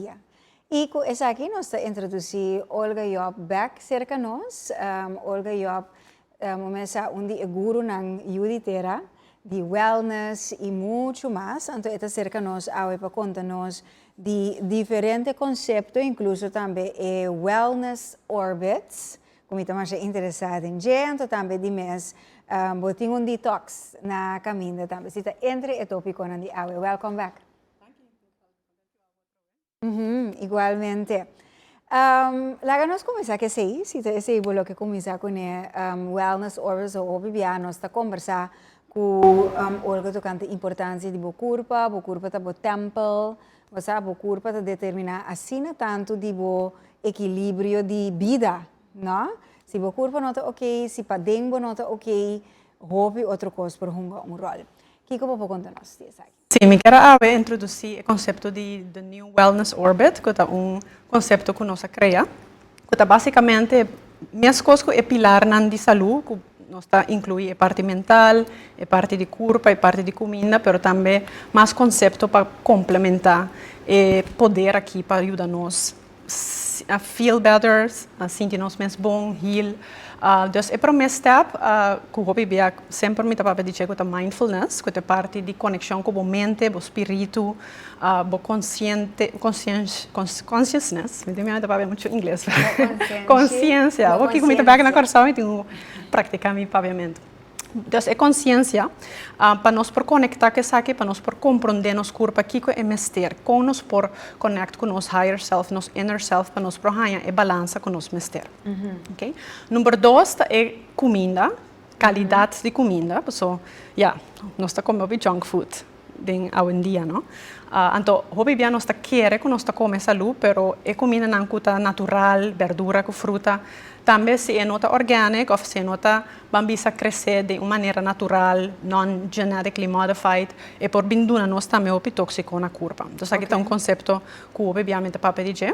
dia. I ku esaki nos ta introdusí Olga Job bèk serka nos. Olga Job bo mes sa un di e gurunan yu di tera di wellness i muchu mas. Anto e ta serka nos awe pa konta nos di diferente konsepto inkluso tambe e wellness orbits ku mi ta masha interesá den dje. Anto tambe di mes bo tin un detox na kaminda tambe. Si ta entre e tópikonan di awe. Welkom bèk. Mm -hmm, igualmente. Um, laga nos comienza que sei, si te sei bo lo que comienza con e um, wellness hours o hopi bia nos ta conversa cu um, Olga tocante importancia di bo curpa, bo curpa ta bo temple, bo sa, bo curpa ta determina asina tanto di bo equilibrio di bida, no? Si bo curpa no ta ok, si pa den bo no ta ok, hopi otro cos por hunga un rol. Kiko bo por conta nos di esaki? Sí, mi ker a awe introdusí e konsepto di The New Wellness Orbit, ku ta un konsepto ku nos a krea, ku ta básikamente meskos ku e pilarnan di salú, ku nos ta inkluí e parti mental, e parti di kurpa, e parti di kuminda, pero tambe mas konsepto pa komplementá e poder akí pa yuda nos. feel better, sinti nos mes bon, heal. Dus e prome step ku hopi bia semper mi ta papia di dje ku ta mindfulness, ku ta e parti di konekshon ku bo mente, bo spiritu, bo konsiente, consciousness, mi tin mira mi ta papia muchu ingles, konsiensia, hopi ku mi ta bek na Kòrsou mi tin praktika mi papiamentu. Entonces e conciencia pa nos por conecta cu esaki pa nos por compronde nos curpa kico e mester con nos por connect cu nos higher self, nos inner self pa nos por haya e balansa cu nos mester. Okay. Number dos ta e cuminda, calidad di cuminda, paso ya nos ta come hopi junk food. den awendia no anto hopi bia nos ta kere ku nos ta kome salú pero e kumindanan ku ta natural berdura ku fruta tambe si e no ta organic òf si e no ta ban bisa kresé den un manera natural non genetically modified e por bin duna nos tambe hopi tóksiko na kurpa entonces aki ta un konsepto ku hopi bia mi ta papia di dje.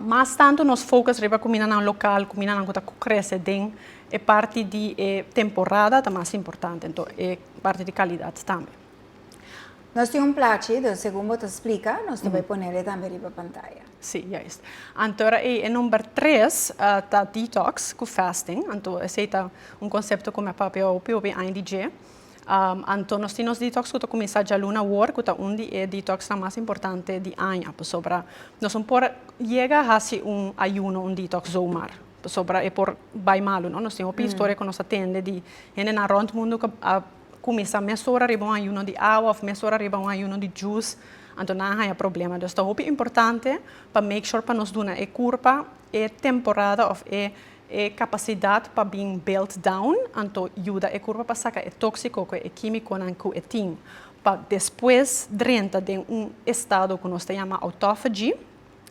Mas tantu nos focus riba cuminanan local, cuminanan cu ta crece den e parti di e temporada ta mas importante, ento e parti di calidad tambe. Nos tin un plachi, den segun bo ta splica, nos ta bay ponele tambe riba pantaya. Si, juist. Anto ora ey e number tres ta detox cu fasting, anto esey ta un concepto cu mi a papia hopi hopi aña di dje. Anto nos tin nos detox ku ta kuminsá djaluna awor ku ta un di e detoxnan mas importante di aña pasobra nos no por yega hasi un ayuno un detox zomaar pasobra e por bai malu no nos tin hopi historia ku nos a tende di hendenan rònt mundu ku a kuminsá mes ora riba un ayuno di awa òf mes ora riba un ayuno di djus anto nan a haña problema dus ta hopi importante pa make sure pa nos duna e kurpa e temporada òf e E kapasidat pa bin belt down anto yuda e kurpa pa saka e tóksiko ku e kímikonan ku e tin, pa despues drenta den un estado ku nos ta yama autofagy.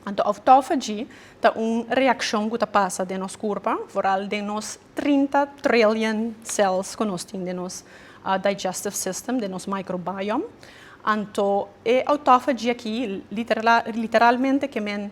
Anto autofagy ta un reakshon ku ta pasa den nos kurpa, foral den nos trinta trillion cells ku nos tin den nos digestive system, den nos microbiome. Anto e autofagy aki literalmente ke men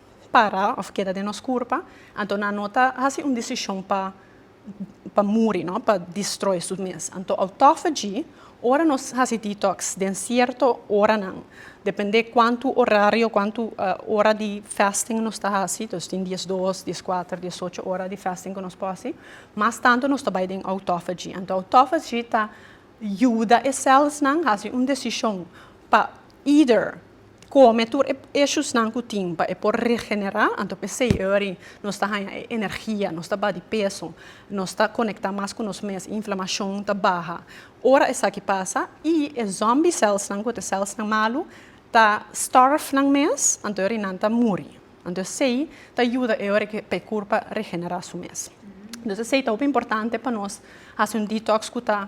para of keda den nos kurpa, anto nan no ta hasi un desishon pa pa muri no, pa distroi su mes. Anto autophagy, ora nos hasi detox den sierto oranan, depende kuantu orario, kuantu ora di fasting nos ta hasi, nos tin diesdos, dieskuater, diesocho ora di fasting ku nos por hasi, mas tantu nos ta bai den autophagy. Anto autophagy ta yuda e selsnan hasi un desishon pa either. kome tur e eshusnan ku tin pa e por regenerá, anto p'esei e ori nos ta haña e energia, nos ta ba di peso, nos ta konektá mas ku nos mes, inflamashon ta baha. Ora esaki pasa i e zòmbi sèlsnan ku te sèlsnan malu ta stòrf nan mes, anto e ori nan ta muri. Anto esei ta yuda e ori pa e kurpa regenerá su mes. Entonces esei ta hopi importante pa nos hasi un detox ku ta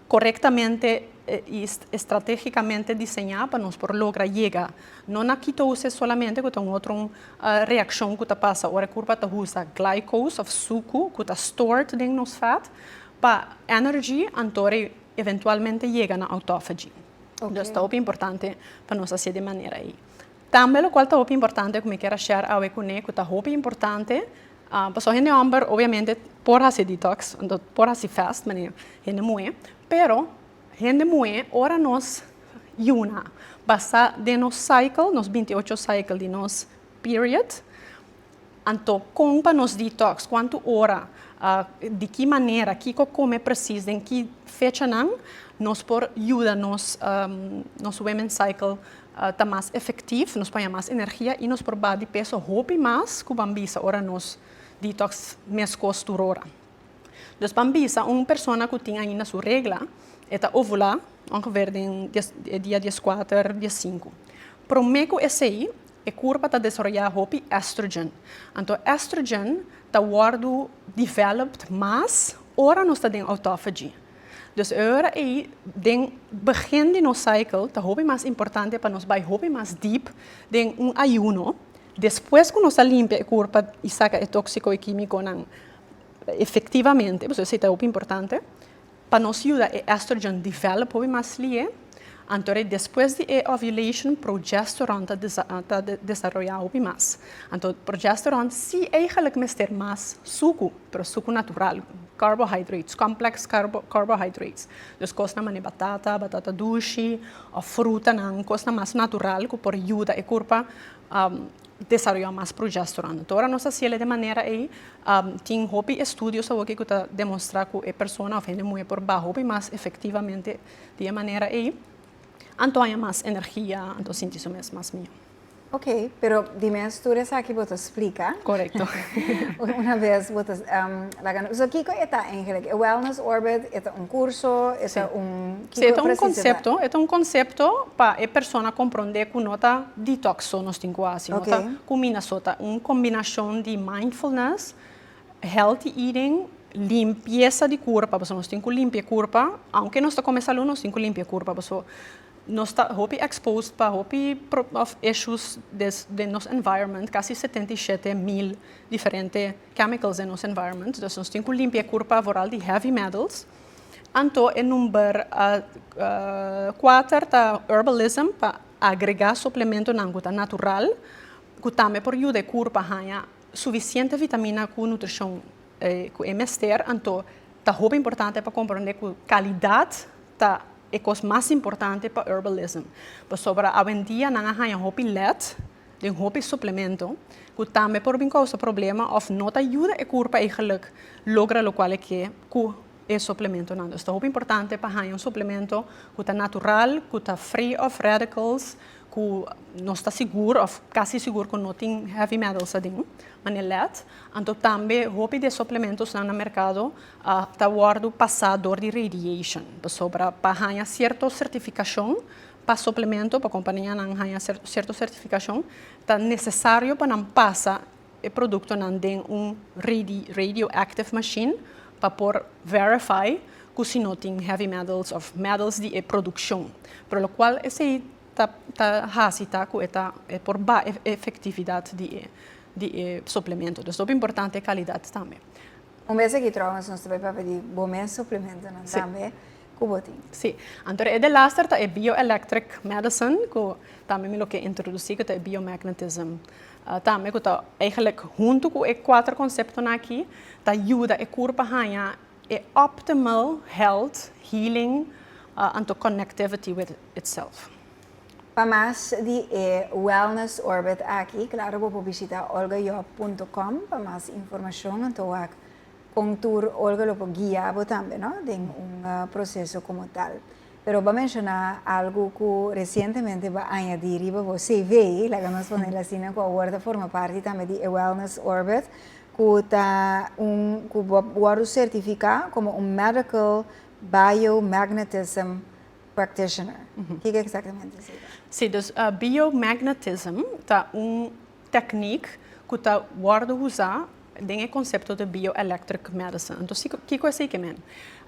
korektamente i estrategikamente diseñá pa nos por logra yega. No na kitose solamente ku ta un otro reakshon ku ta pasa ora kurpa ta usa glucose òf suku ku ta stored den nos fat pa energy anto e eventualmente yega na autophagy. Entonces ta hopi importante pa nos hasié di manera ei. Tambe lokual ta hopi importante ku mi kier a share awe kuné ku ta hopi importante, pasobra hende hòmber obviamente por hasi detox, por hasi fast manera hende muhé, pero hende muhé ora nos yuna basá den nos cycle, nos binti ocho cycle di nos period, Anto kon pa nos detox, kuantu ora, di ki manera, kiko kome presis, den ki fechanan nos por yuda nos nos women cycle ta mas efektiv, nos por haña mas energia i nos por baha di peso hopi mas ku ban bisa ora nos detox meskos tur ora. Dus ban bisa un persona ku tin ainda su regla e ta ovulá ongever den dia dieskuater diesinku. Promé ku esei E kurpa ta desaroyá hopi estrogen. Anto estrogen ta wòrdu developed mas ora nos ta den autophagy. Dus e ora ei den begin di nos cycle ta hopi mas importante pa nos bai hopi mas deep den un ayuno. Despues ku nos a limpia e kurpa i saka e tóksiko, e kímikonan efektivamente, pasobra esei ta hopi importante. Pa nos yuda e estrogen develop hopi mas lihe, anto rei despues di e ovulation progesterone ta ta desaroya hopi mas. Anto progesterone si eigenlik mester mas suku, pero suku natural, carbohydrates, complex carbohydrates. Dus kosnan manera batata, batata dushi, of frutanan, kosnan mas natural ku por yuda e kurpa desaroyá mas progesterone. Ta ora nos ta siel e de manera ei, tin hopi estudios awor ku ta demonstrá ku e persona òf hende muhé por baha hopi mas efektivamente di e manera ei, anto haña mas energia, anto sinti su mes mas mihó. Oké, pero di mes tur esaki bo ta splika. Korekto. Una bes bo ta laga nos. So kiko e ta eigenlijk? E wellness orbit e ta un kurso, e ta un. Kiko e presisidad? E ta un concepto pa e persona comprende cu no ta detox so nos tin cu haci. No ta cumina so. Ta un combinacion di mindfulness, healthy eating, limpieza di curpa, pasobra nos tin cu limpia e curpa. Aunke nos ta come salud, nos tin cu limpia e curpa pasoba nos ta hopi exposed pa hopi of issues den nos environment. Casi setenta i shete mil diferente chemicals den nos environment. Dus nos tin cu limpia e curpa vooral di heavy metals. Anto e number kuater ta herbalism pa agregá suplementonan ku ta natural ku tambe por yuda e kur pa haña sufisiente vitamina ku nutrishon ku e mester. Anto ta hopi importante pa komprondé ku kalidat ta e kos mas importante pa herbalism pasobra awendia nan a haña hopi lèt Den hopi suplemento cu tambe por bin causa problema of no ta yuda e curpa ey geluk logra locual e ke cu e suplementonan. Dus ta hopi importante pa hanja un suplemento cu ta natural, cu ta free of radicals, cu nos ta sigur of casi sigur cu no tin heavy metals aden, manera lead. Anto tambe hopi di e suplementosnan na mercado ta wordo pasa door di radiation, pasobra pa hanja cierto certificacion Pa suplemento pa kompanianan haña sierto sertifikashon, ta nesesario pa nan pasa e produktonan den un radioactive mashin pa por verify ku si no tin heavy metals òf metals di e produkshon. Pero lokual esei ta hasi ta ku e ta por baha e efektividat di e suplemento. Dus ta hopi importante e kalidat tambe. Un bes aki tròp nos ta bai papia di bo mes suplementonan tambe. ku bo tin. Sí, anto de e delaster ta e bioelectric medicine ku tambe mi lo ke introdusí ku ta e biomagnetism tambe ku ta eigenlijk huntu ku e kuater konseptonan aki ta yuda e kurp a haña e optimal health, healing anto connectivity with itself. Pa mas di e Wellness Orbit aki, klaro bo por bishita olgajob punto com pa mas informashon anto wak Con tur Olga lo por guia bo tambe no den un proceso como tal. Pero ba menciona algo cu recientemente ba añadi riba bo CV, laga nos ponel asina, cu awor ta forma parti tambe di e Wellness Orbit, cu ta un cu bo wordo certifica como un Medical Biomagnetism Practitioner. Kico exactamente es ey? Si, dus Biomagnetism ta un techniek cu ta wordo usa Den e konsepto di bioelectric medicine. Entonces, kiko esei ke men?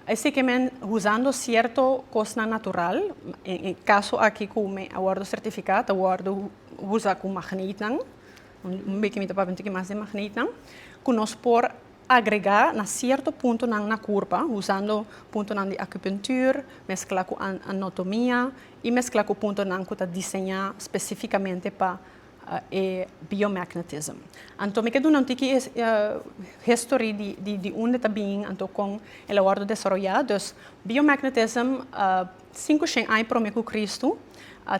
Esei ke men huzando sierto kosnan natural, en e kaso aki ku mi a wòrdu sertifiká ta wòrdu huza ku magneitnan, un bekimita pa bintiki mas di magneitnan, ku nos por agregá na sierto puntonan na kurpa, huzando puntonan di acupuntuur, mesklá ku anotomia i mesklá ku puntonan ku ta diseñá spesífikamente pa e biomagnetism. Anto mi ke duna un tiki e history di unda ta bin anto kon el a wordo desaroya. Dus biomagnetism sinku shen aña prome ku Kristu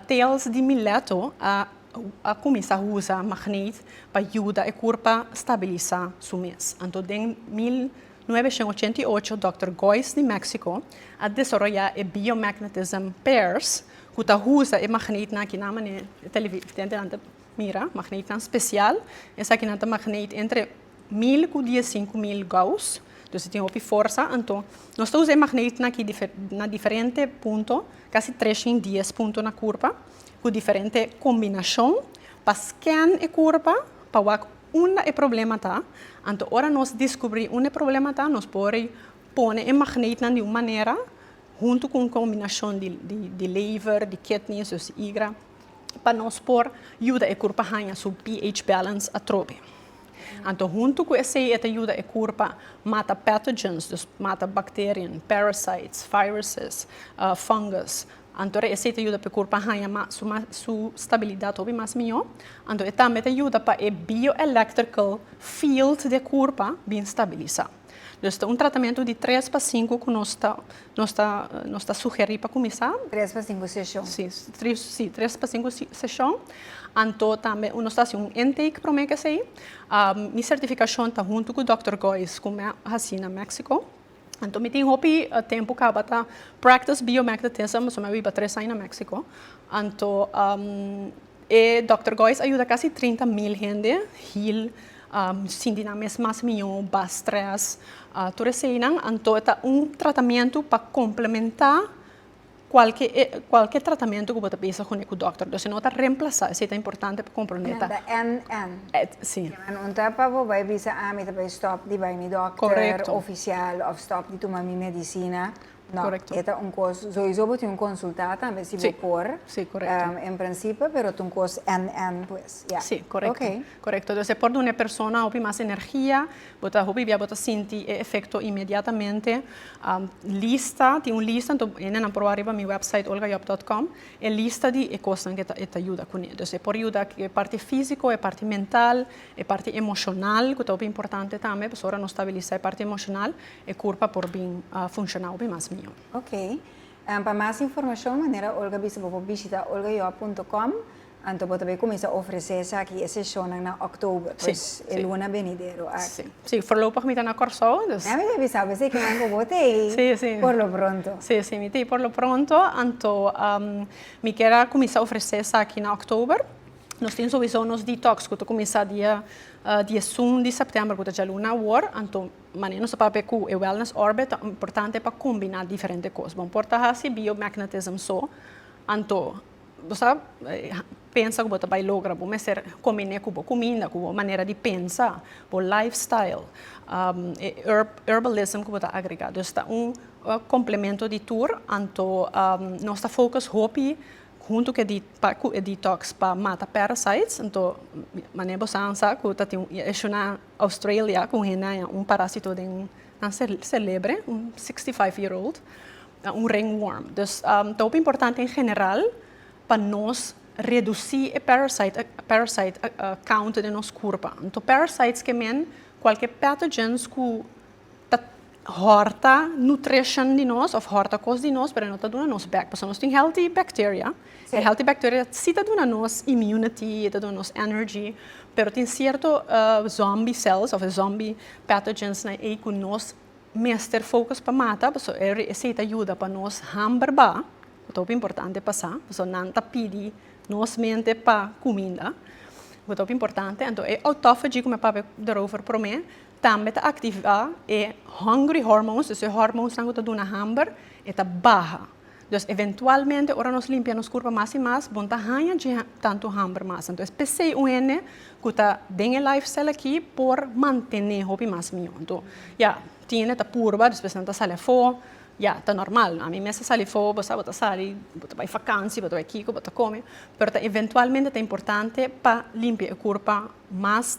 tales di Mileto a kuminsá usa magneet pa yuda e kurpa stabilisá su mes. Anto den mil. Nuebe shen ochenta i ocho Dòkter Gois di Mèksiko a desaroyá e biomagnetism pairs ku ta usa e magneitnan kinan manera e televidentenan ta mira, magneitnan spesial. Esakinan ta magneet entre mil ku dies sinku mil Gauss, dus e tin hopi forsa. Anto nos ta usa e magneitnan aki na diferente punto, kasi tres shin dies punto na kurpa, ku diferente kombinashon pa skèn e kurpa pa wak. unda e problema ta, anto ora nos diskubrí unda e problema ta, nos por pone e magneetnan di un manera, huntu ku un kombinashon di lever, di kidney, soos di igra, pa nos por yuda e kurpa haña su pH balance atrobe. Anto huntu ku esei e ta yuda e kurpa mata pathogens, dus mata bacteriën, parasites, viruses, fungus, Anto e asey ta yuda pa e kurpa haña mas su mas su stabilidat hopi mas mihó. Anto e tambe ta yuda pa e bioelectrical field di e kurpa bin stabilisá. Dus ta un tratamentu di tres pa sinku ku nos ta nos ta nos ta sugerí pa kuminsá. Tres pa sinku seshon. Sí, sí, tres pa sinku seshon. Anto tambe nos ta hasi un intake promé ku esei. Mi sertifikashon ta huntu ku dòkter Gois ku me hasi na Méksiko. Anto mi tin hopi tempu kaba ta practice biomagnetism, pasobra mi a biba tres aña na Mexico. Anto e Dòkter Gois a yuda kasi trinta mil hende heal sinti nan mes mas mió, ba strès, tur eseinan. Anto e ta un tratamentu pa komplementá. Cualke e cualke tratamiento cu bo ta bisa con e cu doctor do si no ta remplasa esey ta importante pa comprende ta. Manda NN. Et si. Nan un ta pa bo bay bisa ah mi ta bay stop di bay mi doctor. Correcto. Oficial of stop di tuma mi medicina no Correcto. e ta un cos soyiso bo tin un consulta tambe si bo por Si si correcto. en principe pero ta un cos NN pues ya. Si correcto. Okay. Correcto, entonces por duna e persona hopi mas energia. Bo ta hopi bia bo ta sinti e efecto inmediatamente. Lista, tin un lista, anto hendenan proba riba mi website olgajob dot com, e lista di e cosnan cu e ta yuda cune. Dus e por yuda cu e parti fisico, e parti mental, e parti emocional cu ta hopi importante tambe, pasobra ora nos stabilisa e parti emocional e curpa por bin funciona hopi mas mihor. Ok. Pa mas informacion manera Olga a bisa bo por bishita olgajob punto com. Anto bo ta bay cuminsa ofrece esaki, e sesionnan na October, pues e luna benidero aki. Si, forlopig mi ta na Corsou, dus. Dame bay bisa bo eseki nan cu bo ta ey. Si, si. Por lo pronto. Si, si, mi ta ey por lo pronto, anto mi kier a cuminsa ofrece esaki na October. Nos tin sowiso nos detox cu ta cuminsa dia diesun di September cu ta djaluna awor, anto manera nos ta papia cu e Wellness Orbit ta importante pa combina diferente cos. Bo por ta haci biomagnetism so, anto Bo sa pensa ku bo ta bai logra, bo mester kominé ku bo kuminda, ku bo manera di pensa, bo lifestyle, e herbalism ku bo ta agregá. Dus ta un komplemento di tur, anto nos ta fokus hopi huntu ku e detox pa mata parasites. Anto manera bo sa sa ku ta tin e ishu na Australia ku un hende a haña un parásito den nan selebre, un sixty five year old. na un ringworm. Dus ta hopi importante en general pa nos reduci e parasite count den nos curpa. Anto parasites ke men cualkier pathogens cu ta horta nutrition di nos of horta cos di nos pero e no ta duna nos bek pasobra nos tin healthy bacteria. E healthy bacteria si ta duna nos immunity, e ta duna nos energy pero tin cierto zombie cells of zombie pathogens na ei cu nos mester focus pa mata pasobra e ri esey ta yuda pa nos hamber ba, cu ta hopi importante pa sa, pasobra nan ta pidi nos mente pa cuminda, cu ta hopi importante. Anto e autophagy cu mi a papia daarover prome tambe ta activa e hungry hormones, dus e hormones nan cu ta duna hamber e ta baha. Entonces eventualmente ora nos limpia nos curpa mas y mas bon ta haña dje tanto hamber mas. Entonces pesey un hende cu ta den e lifestyle aki por mantene hopi mas mijo. Enton ya tin hende ta purba despues nan ta sali afo ya ta normal no. A mi mes ta sali afo bo sa bo ta sali bo ta bay fakansi bo ta bay kiko bo ta come pero ta eventualmente ta importante pa limpia e curpa mas.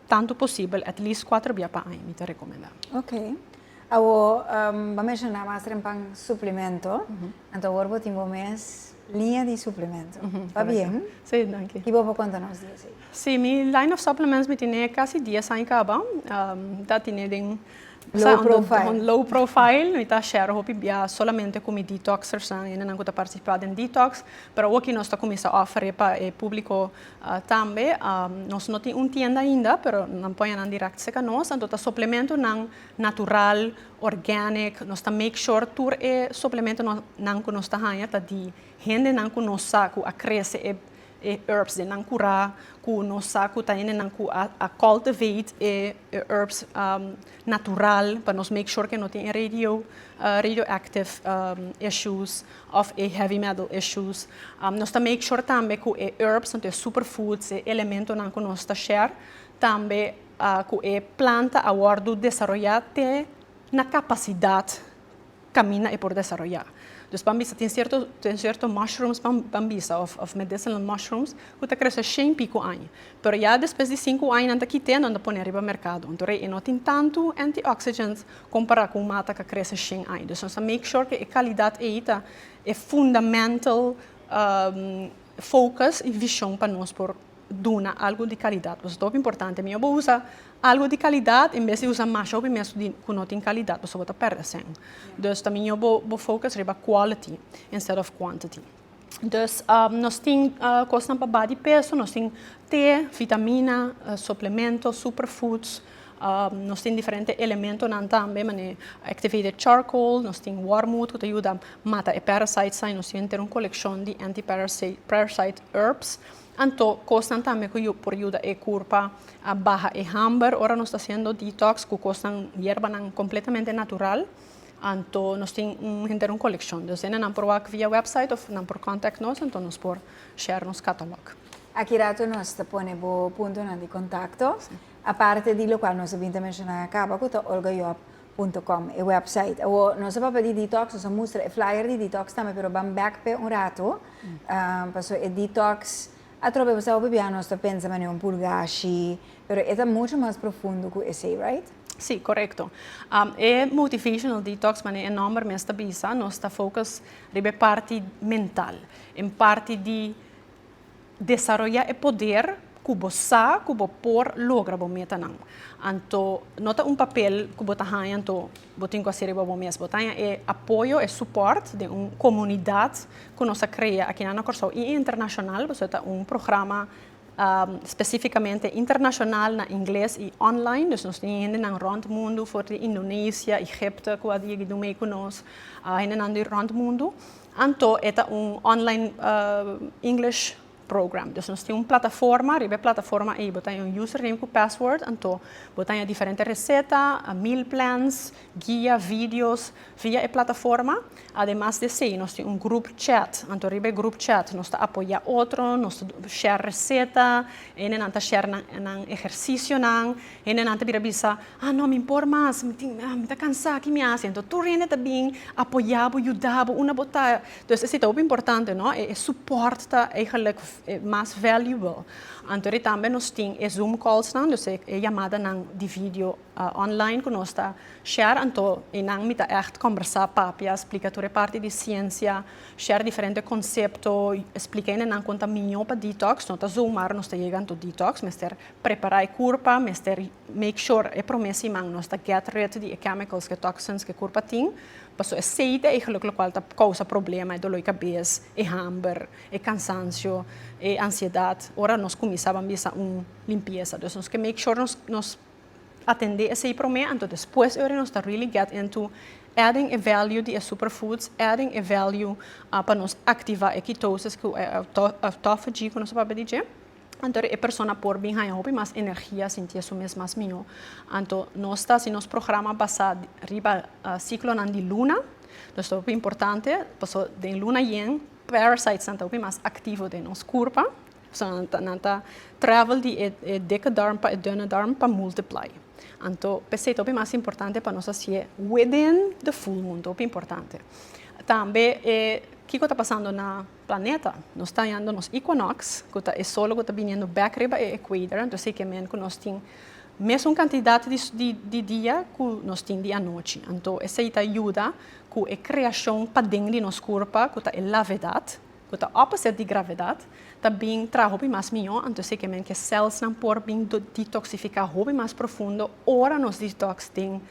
Tantu posibel, at least cuatro bia pa aña mi ta recomenda. Ok. Awor bo a menciona mas renbanan suplemento, anto awor bo tin bo mes liña di suplemento. Ta bien? Si, danki. Ki bo por conta nos di esey? Si, mi line of supplements mi tene casi dies aña caba. Ta tene den. Low profile. Un low profile. Mi ta share hopi bia solamente cu mi detoxers nan, hende nan cu ta participa den detox. Pero awor ki nos ta cuminsa offer e pa e publico Tambe nos no tin un tienda ainda pero nan poña nan direct cerca nos anto ta suplementonan natural, organic, nos ta make sure tur e suplementonan cu nos ta haña ta di hendenan cu nos sa cu a crece e herbs den nan cura, cu nos sa cu ta hendenan cu a cultivate e herbs natural pa nos make sure cu no tin e radio radioactive issues of e heavy metal issues. Nos ta make sure tambe cu e herbs, tanto e superfoods, e elementonan cu nos ta share, tambe cu e planta a wordo desaroya te na capacidad caminda e por desaroya. Dus pan bisa tin cierto tin cierto mushrooms pan bisa of of medicinal mushrooms cu ta crece shen pico aña. Pero ya despues di cinco aña nan ta kite nan ta pone riba mercado. Anto rei e no tin tanto antioxidants Compará cu un mata ca crece shen aña. Dus nos ta make sure cu e calidad ey ta e fundamental focus y vision pa nos por duna algo di calidad. Pues ta hopi importante mijo bo usa algo di calidad en bes di usa masha hopi mes cu no tin calidad pasobra bo ta perde asen. Dus ta mijo bo focus riba quality instead of quantity. Dus nos tin kosnan pa baha di peso, nos tin te, vitamina, suplemento, superfoods, nos tin diferente elementonan tambe mane activated charcoal, nos tin wormwood ku ta yuda mata e parasites nan i nos tin henter un kolekshon di anti parasite herbs. Anto kosnan tambe ku por yuda e kurpa a baha e hamber ora nos ta hasiendo detox ku kosnan yerbanan kompletamente natural. Anto nos tin un henter un kolekshon. Dos'é nan nan por wak via wèpsait òf nan por kòntek nos, anto nos por share nos katalòg. Aki rato nos ta pone bo puntonan di kontakto, aparte di lokual nos a bin ta menshoná na kaba ku ta olgajob punto com, e wèpsait. Awor nos a papia di detox, nos a mustra e flyer di detox tambe, pero ban bèk p'e un rato, pasobra e detox atrobe bo staba papia nos ta pensa manera un purgashi, pero e ta muchu mas profundo ku esei, right? Sí, korekto. E motivational detox, manera e nòmber mes ta bisa, nos ta focus riba e parti mental, e parti di desaroyá e poder ku bo sa ku bo por logra bo metanan. Anto no ta un papel ku bo ta haña anto bo tin ku a si riba bo mes. Bo ta haña e apoyo, e supòrt den un komunidat ku nos a krea akinan na Kòrsou i internashonal pasobra ta un programa. Spesífikamente internashonal na ingles i online. Dus nos tin hendenan rònt mundu, for di Indonesia, Egipto ku a digi dun mei ku nos. Hendenan di rònt mundu. Anto e ta un online English program. Dus nos tin un plataforma, riba e plataforma ei bo ta haña un username ku password, anto bo ta haña diferente reseta, meal plans, guia, videos via e plataforma. Ademas di esei nos tin un group chat, anto riba e group chat nos ta apoya otro, nos ta share reseta, hendenan ta share nan nan ehercicionan, hendenan ta bira bisa, ah no mi por mas, mi tin ah mi ta cansa aki mi a hasi, anto tur hende ta bin apoya bo, yuda bo unda bo ta, entonces esei ta hopi importante no, e support ta eigenlijk mas valuable, anto di tambe nos tin e zoom calls nan, dus e yamadanan di video. Online ku nos ta share anto i nan mi ta ègt kòmbersá, papia, splika tur e parti di siensia, share diferente konsepto, splika hende nan kon ta miñó pa detox, no ta zomaar nos ta yega anto detox, mester prepará e kurpa, mester make sure e promé siman nos ta get rid di e chemicals, e toxins ku e kurpa tin, paso e seite eigelik lokual ta kousa problema, e doló i kabes, e hamber, e kansansio, e ansiedat, ora nos kuminsá ban bisa un limpiesa. Dus nos ke make sure nos nos. atendé esei promé, anto despues e ora nos ta really get into adding e value di e superfoods, adding e value pa nos activa e ketosis ku e autophagy ku nos ta papia di dje, anto e persona por bin haña hopi mas energia, sintié su mes mas mihó. Anto nos ta hasi nos programa basá riba ciclonan di luna, nos ta hopi importante, pasobra den luna yen parasites nan ta hopi mas activo den nos kurpa. Nan ta travel di e dikkedorm pa e dunnedorm pa multiply. Anto p'esei ta hopi mas importante pa nos a si'e within the full moon, ta hopi importante. Tambe e kiko ta pasando na planeta, nos ta yando nos equinox, ku ta e solo ku ta biniendo bek riba e equator, anto esei ke men ku nos tin mesun kantidat di dia ku nos tin di anochi. Anto esei ta yuda ku e kreashon paden di nos kurpa, ku ta e lavedat, ku ta opposite di gravedad, ta bin traha hopi mas mihó, anto esei ke men ke cèlsnan por bin detoksifiká hopi mas profundo ora nos detoks den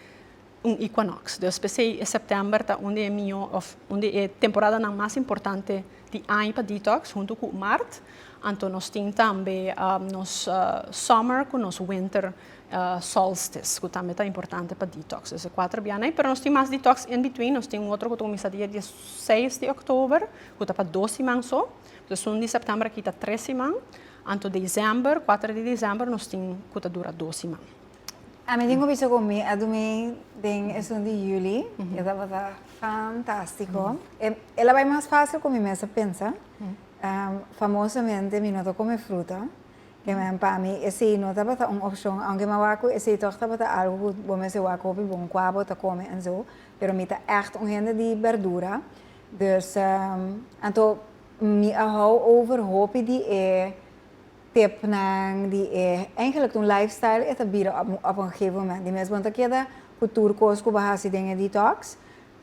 un equinox. Dus p'esei e sèptèmber ta un di e mihó òf un di e temporadanan mas importante di aña pa detoks, huntu ku mart, anto nos tin tambe nos summer ku nos winter. Solstice cu tambe ta importante pa detox. Es'e cuater bianan ai, pero nos tin mas detox in between. Nos tin un otro cu ta cuminsa dia dieseis di oktober, cu ta pa dos siman so. Sesun di september aki ta tres siman. Anto december, cuater di december, nos tin cu ta dura dos siman. Ami tin cu bisa cu mi a dumi den esun di juli y a tabata fantastico. E el a bai mas facil cu mi mes a pensa. Famosamente mi no ta come fruta. Amen pa mi esey no tabata un opcion aunke mi a wak cu esey toch tabata algo cu bo mester wak hopi bon cua bo ta come en zo pero mi ta echt un hende di berdura dus anto mi a hou over hopi di e tipnan di e eigenlijk tu lifestyle e ta bira op un gegeven moment di mes bo ta keda cu tur cos cu bo a haci den e detox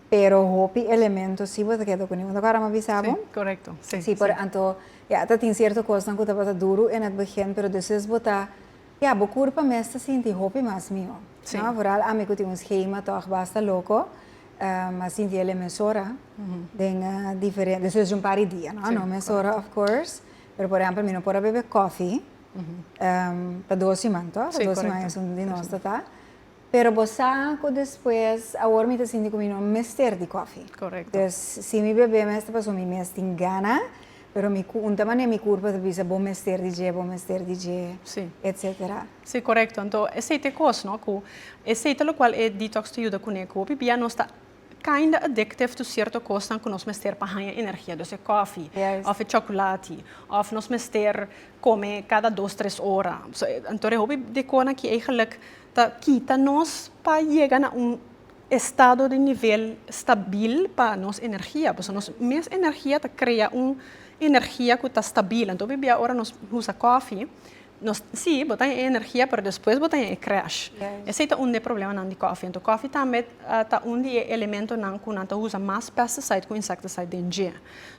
pero hopi elemento si bo ta keda kuni unda ku Aram a bisa bo. Si, korekto. Si, si. Si, anto ya ta tin sierto kosnan ku tabata duru en et begin, pero despues bo ta, ya, bo kurpa mes ta sinti hopi mas mihó. Si. No? Vooral ami ku tin un schema tòg basta loko, a sinti el e mesora den diferente, despues di un par di dia, no? Si, korekto. No mesora of course, pero por ehèmpel mi no por a bebe kòfi pa dos siman, tò? Si, korekto. Dos siman esun di nos ta ta. Pero bo sa cu despues, awor mi ta sinti cu mi no mester di coffee. Correcto. Entonces, si mi bebe mester pasobra mi mes tin gana, pero mi cu un ta manera mi curpa ta bisa bo mester di dje, bo mester di dje, Sí. etcetera. Sí, correcto. Anto esey ta e cos, no, cu esey ta locual e detox ta yuda cune, cu hopi bia nos ta. kinda addictive to cierto cosnan cu nos mester pa haya energia. Dos'e coffee, of e chocolati, of nos mester come cada dos, tres ora. So, anto e hopi di conan aki eigenlijk ta kita nos pa yega na un estado di nivel stabil pa nos energia. Pasobra nos mes energia ta crea un energia cu ta stabil. Anto hopi bia ora nos usa coffee. Nos, sí, bo ta e energia pero despues bo ta e crash. Esey ta un di e problemanan di coffee. Anto coffee tambe ta un di e elementonan cu nan ta usa mas pesticide cu insecticide den dje.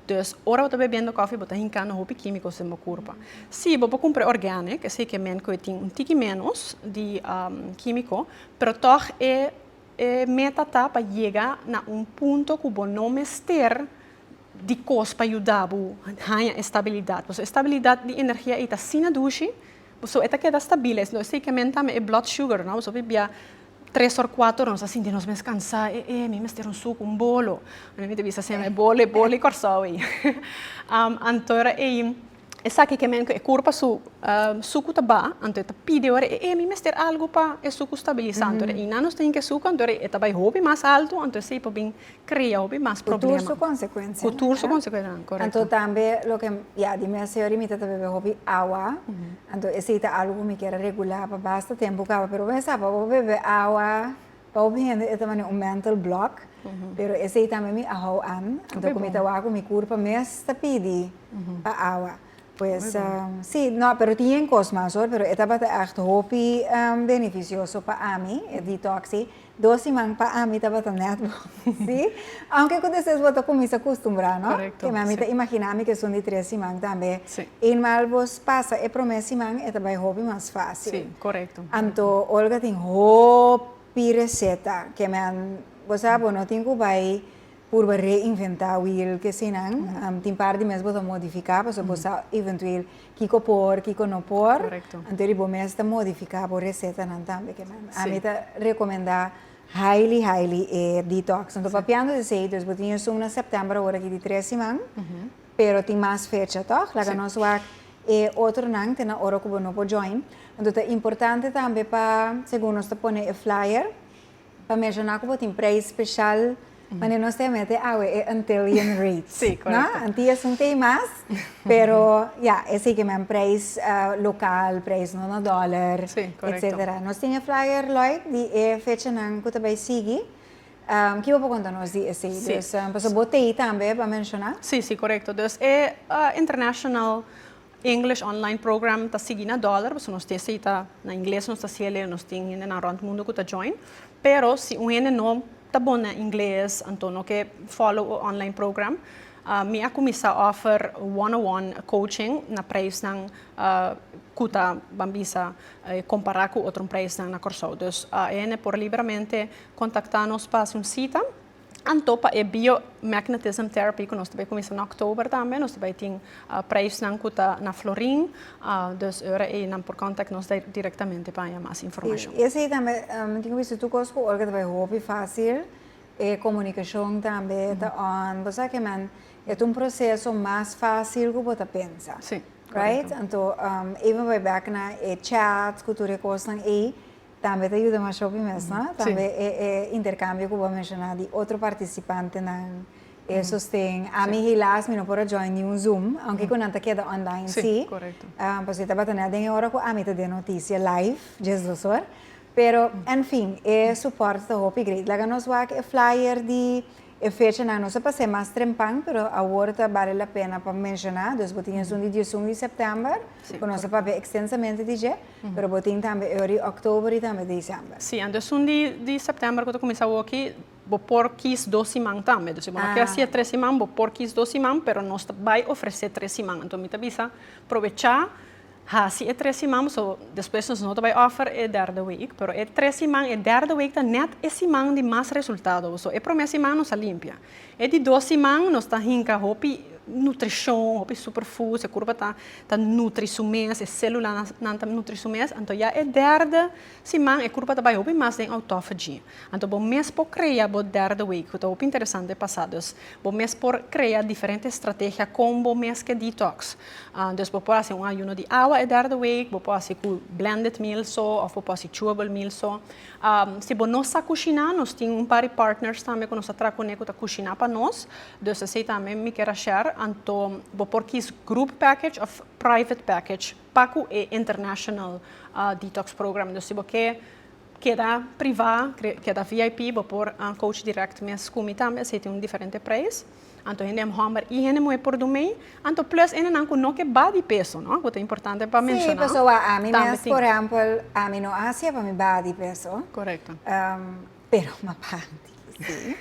Dus ora bo ta bebiendo coffee bo ta hincando hopi quimico's den bo curpa. Sí, bo por cumpra e organic, esey cu e men cu e tin un tiki menos di quimico, pero tog e e meta ta pa yega na un punto cu bo no mester. di kos pa yuda bo haña estabilidat. Pasobra e stabilidat di energia ei ta asina dushi, so e ta keda stabil, esei lo ta kemen tambe e blood sugar, no? Pasobra bia tres òr, kuater òr nos ta sinti nos mes kansá, e e mi mester un suku, un bolo, mi ta bisa asina, e bolo, e bolo di Kòrsou ei. Anto ora ei. Esaki ke men ku e kurpa su suku ta baha, anto e ta pidi ora, e emi mester algu pa e suku stabilisa. Anto ora e nan nos ta hinka e suku, anto ora e ta bai hopi mas altu, anto esei por bin krea hopi mas problema. Ku tur su konsekuensianan. Ku tur su konsekuensianan, korekto. Anto tambe loke, ya, di mes e ora mi ta ta bebe hopi awa, anto esei ta algu ku mi ker a regulá pa basta tempu kaba, pero bo a sa pa bo bebe awa. Pa hopi hende e ta manera un mental block, pero esey tambe mi a hou an, anto cu mi ta wak cu mi curpa mes ta pidi pa awa. Pues, si, no, pero tin yen cos mas hoor, pero e tabata echt hopi beneficioso pa ami, e detox ey. Dos siman pa ami tabata net bon, si. Aunke cu despues bo ta cuminsa custumbrá, no? Correcto, Keme ami ta sí. imaginá mi kesun di tres siman tambe. Sí. Eenmaal al bos pasa e promé siman e ta bai hopi mas fácil. Sí, correcto. Anto Olga tin hopi reseta, keme an, bo sa bo no tin cu bai purba reinventá wiel kesinan, am, tin par di mes bo ta modificá pasobra bo sa eventueel kico por, kico no por. Correcto. Anto di bo mes ta modificá bo resetanan tambe, keme an. Sí. Ami ta recomendá. Hailey Hailey e detox no ta papiando di esey dus bo tin esun na september awor aki di tres siman pero tin mas fecha tog laga nos wak e otro nan te nan ora ku bo no por join enton ta importante tambe pa segun nos ta pone e flyer pa menshoná ku bo tin preis special Mane nos te mete awe e Antillian rates. Sí, correcto. No? Antillas son pay mas, pero ya, e sigi men prijs uh, local, prijs no na dollar, Sí, correcto. etcetera. Nos tin e flyer, Lloyd, di e fechanan cu ta bay sigi. Um, kiba por conta nos di esey? Sí. Dus, um, paso bo tei tambe pa menciona. Sí, sí, correcto. Dus e uh, International English online program ta sigui na dollar pasobra nos tin esei ta na ingles nos ta siel e nos tin hendenan rond mundo cu ta join pero si un hende no ta bon na ingles anto no ke follow e online program mi a cuminsa offer one on one coaching na prijsnan cu ta ban bisa compara cu otro prijsnan na Corsou. Dus e hende por liberamente contacta nos pa haci un cita. Anto pa e biomagnetism therapy ku nos ta bai kuminsá na òktober tambe nos ta bai tin preisnan ku ta na florin, dus ora ei nan por kòntak nos direktamente pa haña mas informashon. I esei tambe mi tin wòrdu tur kos ku ora ku ta bai hopi fásil e komunikashon tambe ta on. Bo sa ke men e ta un proseso mas fásil ku bo ta pensa, right? Anto even bai bèk na e chat ku tur e kosnan ei. Tambe ta yuda masha hopi mes no, tambe e e interkambio ku bo a menshoná di otro partisipantenan e sosten, ami hilas mi no por a join niun zoom, aunke ku nan ta keda online si, pasobra tabata nel den e ora ku ami ta den notisia live djes dos or, pero en fin e suport ta hopi great. Laga nos wak e flyer di e fechanan, no sa pa ser mas trempan pero awor ta bale la pena pa menshoná, dus bo tin esun di dies un di sèptèmber ku nos a papia ekstensamente di dje. Pero bo tin tambe e ori October y tambe December. Sí, anto es un di di September cu ta cuminsa awokki, bo por kies dos siman tambe. Dus si bo no kier haci'e tres siman, bo por kies dos siman, pero nos ta bay ofrece tres siman. Anto mi ta bisa probecha haci e tres siman, so despues nos no ta bay offer e derde week. Pero e tres siman, e derde week ta net e siman di mas resultado. So e prome siman nos a limpia. E di dos siman nos ta hinka hopi nutrishon, hopi superfoods, e kurpa ta ta nutri su mes, e sélulanan ta nutri su mes, anto ya e derde siman e kurpa ta bai hopi mas den autophagy. Anto bo mes por krea bo derde week, ku ta hopi interesante pasá. Dus bo mes por krea diferente estrategia kon bo mes ke detox. Dus bo por hasi un ayuno di awa e derde week, bo por hasi ku blended meal so, òf bo por hasi chewable meal so. Si bo no sa kushiná, nos tin un pari partners tambe ku nos ta traha kuné ku ta kushiná pa nos. Dus esei tambe mi ker a share. Anto bo por kis group package òf private package pa ku e international detox program. Dus si bo ke keda privá, keda VIP, bo por coach direct mes ku mi tambe. Esei tin un diferente preis. Anto hende hòmber i hende muhé por durmee, anto plus hendenan ku no ke ba di peso, no? Ku ta importante pa menshoná. Sí, pasobra ami mes, por ehèmpel, ami no a hacié pa mi baha di peso. Korekto. Pero m'apandi, sí.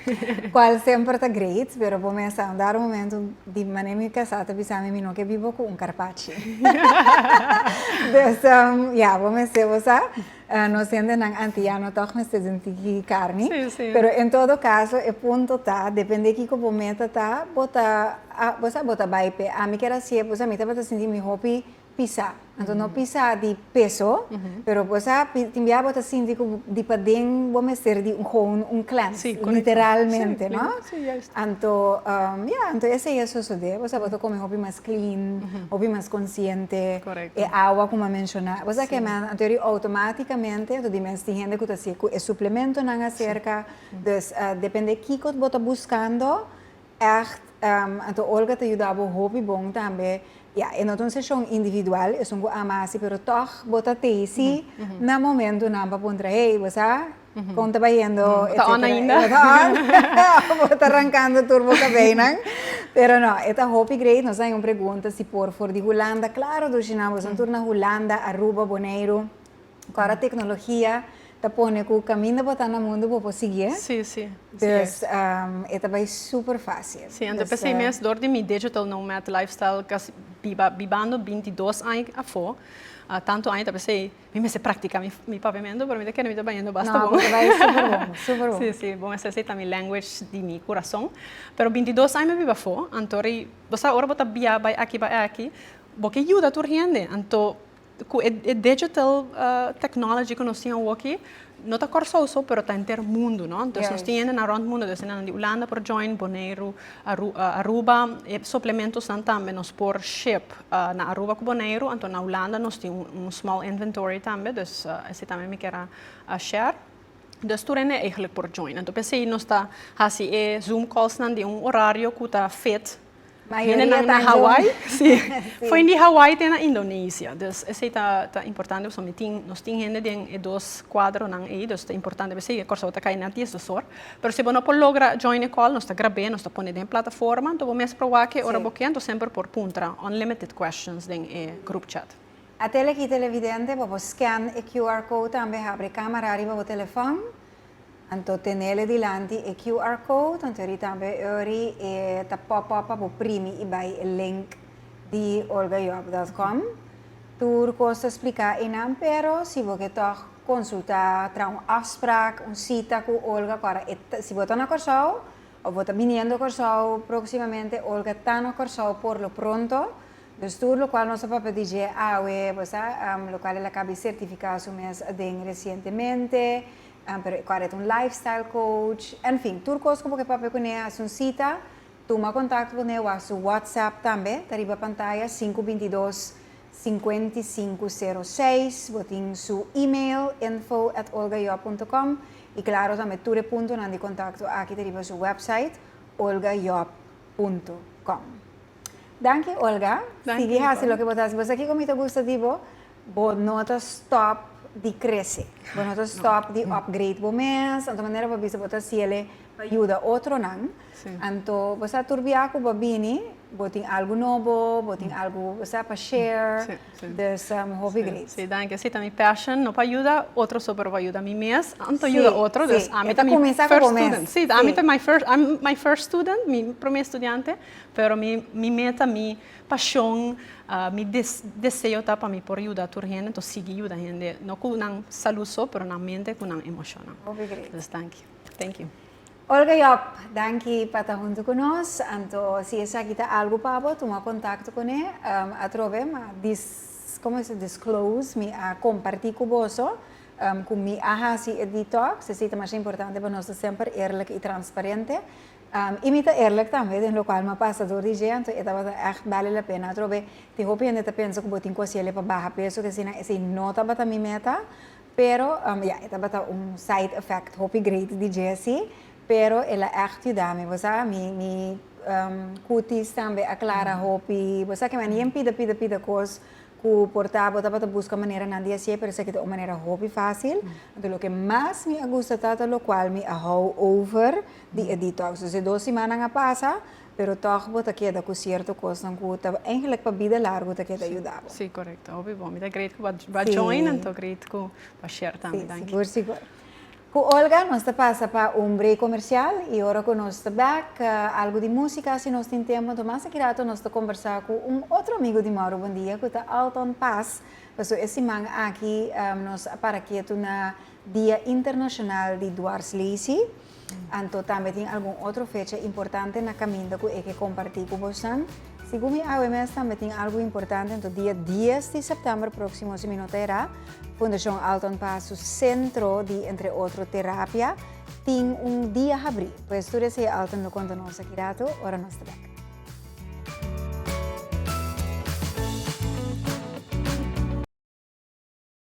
Kual semper ta great, pero por mester a un dado momento, di manera mi kasá ta bisa mi, mi no ke biba ku un karpachi. Desha, ya, bo mester bo sa. Nos hendenan antiano tog mester sinti ki karni. Sí, sí. Pero en todo caso e punto ta depende kiko bo meta ta, bo ta a bo sa bo ta bai p'e ami kier a si'e pues ami tabata sinti mi hopi pisa. Anto no pisa di peso pero bo sa tin tin bia bo ta sinti ku di paden bo mester di un goun un cleanse. Sí, korekto. Literalmente no? Sí, sí, juist. Anto ya anto esei a sosode bo sa bo ta kome hopi mas clean, hopi mas consciente. Korekto. E awa ku m'a menshoná, bo sa ke m'a anterior i outomátikamente anto di mes tin hende ku ta sigue ku e suplementonan aserka, dus depende kiko bo ta buskando ègt, anto Olga ta yuda bo hopi bon tambe, ya e no ta un seshon individual, esun ku a hasi pero tòg bo ta tezi na momentunan pa puntra, hey bo sa Kon ta bayendo e ta on ainda e ta on abo ta rankando tur bo kabeinan pero no e ta hopi great nos a haña un pregunta si por for di hulanda claro dushi nan boso tur na hulanda aruba boneiru ku ora tecnologia ta pone ku kaminda bo ta na mundu bo por sigi dus e ta bai super facil si anto p'esei mes dor di mi digital nomad lifestyle casi bibando binti dos aña afo tanto aña ta p'esei. Mi mester practica mi papiamento pero mi ta kere mi ta bañando basta bon. No, bo ta bay super bon, super bon. Sí, sí, bo mester hacer ta mi language di mi curazon. Pero binti dos aña mi bai bafó, anto ri, bo sa ora bo ta bia bai aki bai aki, bo ke yuda tur hende, anto cu e, e digital technology cu nos tin awoki, no ta Kòrsou so pero ta henter mundu no entonces nos tin hendenan rònt mundu nos tin hendenan di Ulanda por join Boneiru Aruba e suplementosnan tambe nos por ship na Aruba ku Boneiru anto na Ulanda nos tin un small inventory tambe dus esei tambe mi kier a share dus tur hende por join anto p'esei nos ta hasi e zoom callsnan di un orario ku ta fit Mayoria ta den Hawaii. Si. Fo'i di Hawaii te na Indonesia. Dus esei ta ta importante pasobra mi tin, nos tin hende den e dos kuadronan ei, dus ta importante pa esei. Kòrsou ta kai na dies dos or. Pero si bo no por logra join e kòl, nos ta grab'é, nos ta pone den e plataforma. Anto bo mes proba ke ora bo ke, anto semper por puntra unlimited questions den e group chat. A tele ki televidente, bo por scan e QR code tambe, habri e camera riba bo telefòn. Anto tenele dilanti e QR code, anto eri tambe e ori e ta pop up pa bo primi i bai e link di olgajob.com. Tur cos ta splica einan pero si bo ke tog consulta, traha un afspraak, un cita cu Olga cora e ta, si bo ta na Corsou of bo ta biniendo Corsou proximamente, Olga ta na Corsou por lo pronto. Dus tur lo cual nos ta papia di dje awe, bo sa, lo cual el a cabi certifica su mes aden recientemente, Cual e ta un lifestyle coach. En fin, tur cos cu bo ke papia cu ne, haci un cita, tuma contacto cu ne, wak su WhatsApp tambe, ta riba pantaya, sinku binti dos, sinkuenta i sinku seru seis. Bo tin su email, info at olgajob punto com, i claro tambe tur e puntonan di contacto aki ta riba su website, olgajob punto com. Danki Olga, sigui haci loke bo ta haci. Bo sa kico mi ta gusta di bo? Bo no ta stòp di krese. Bo no ta stòp di upgrade bo mes. Anto manera bo bisa bo ta hasiel e pa yuda otronan. Anto bo sa tur biaha ku bo bini bo tin algu nobo, bo tin algu bo sa pa share. Dus mi hopi grei. Si, danki. Esei ta mi passion, no pa yuda otro so pero pa yuda mi mes. Anto yuda otro. Dus ami ta mi first student. Si, ami ta mi first student, mi promé studiante, pero mi meta mi. Pashon, mi deseo ta pa mi por yuda tur hende, entos sigui yuda hende, no ku nan salú so, pero nan mente ku nan emoshonnan. Hopi gret. Dus danki. Thank you. Olga Job, danki pa ta huntu ku nos. Anto si esaki ta algu pa bo, tuma kontakto kuné atrobe, ma dis, komo e se disclose, mi a kompartí ku boso ku mi a hasi e detox, esei ta masha importante, pa nos ta semper eerlijk i transparente. I mi ta eerlijk tambe den lokaal ma pasa door di dje anto e tabata echt bale la pena atrobe. Tin hopi hende ta pensa ku bo tin ku hasié le pa baha peso ke sinan esei no tabata mi meta pero ya e tabata un side effect hopi great di dje si pero el a echt yuda mi bo sa mi mi kutis tambe a klara hopi bo sa ke mi a nen pida pida pida kos ku por ta bo tabata buska manera nan di hasié pero esaki ta un manera hopi fásil. Lo ke mas mi a gusta ta ta lokaal mi a hou over. di e detox. Dus e dos simannan a pasa, pero tòg bo ta keda ku sierto kosnan ku ta eingelik pa bida largu ta keda yuda bo. Sí, korekto. Hopi bon. Mi ta great ku bo a join an ta great ku bo a share tambe. Danki. Sí, sigur, sigur. Ku Olga nos ta pasa pa un break komersial i ora ku nos ta bèk, algu di músika si nos tin tempu. Anto mas akirato nos ta kombersá ku un otro amigu di Mauro Buendia ku ta Alton Paz. Pasobra e siman aki nos a para ketu na Dia Internashonal di Dwarslesi. Anto tambe tin algun otro fecha importante na kaminda ku e ke kompartí ku bosnan. Segun mi AWMS tambe tin algu importante, anto dia dies di sèptèmber próksimo si mi no ta erá, Fundashon Alton Paz su sentro di entre otro terapia tin un dia habrí. Pues tur esei Alton lo konta nos aki rato ora nos ta bèk.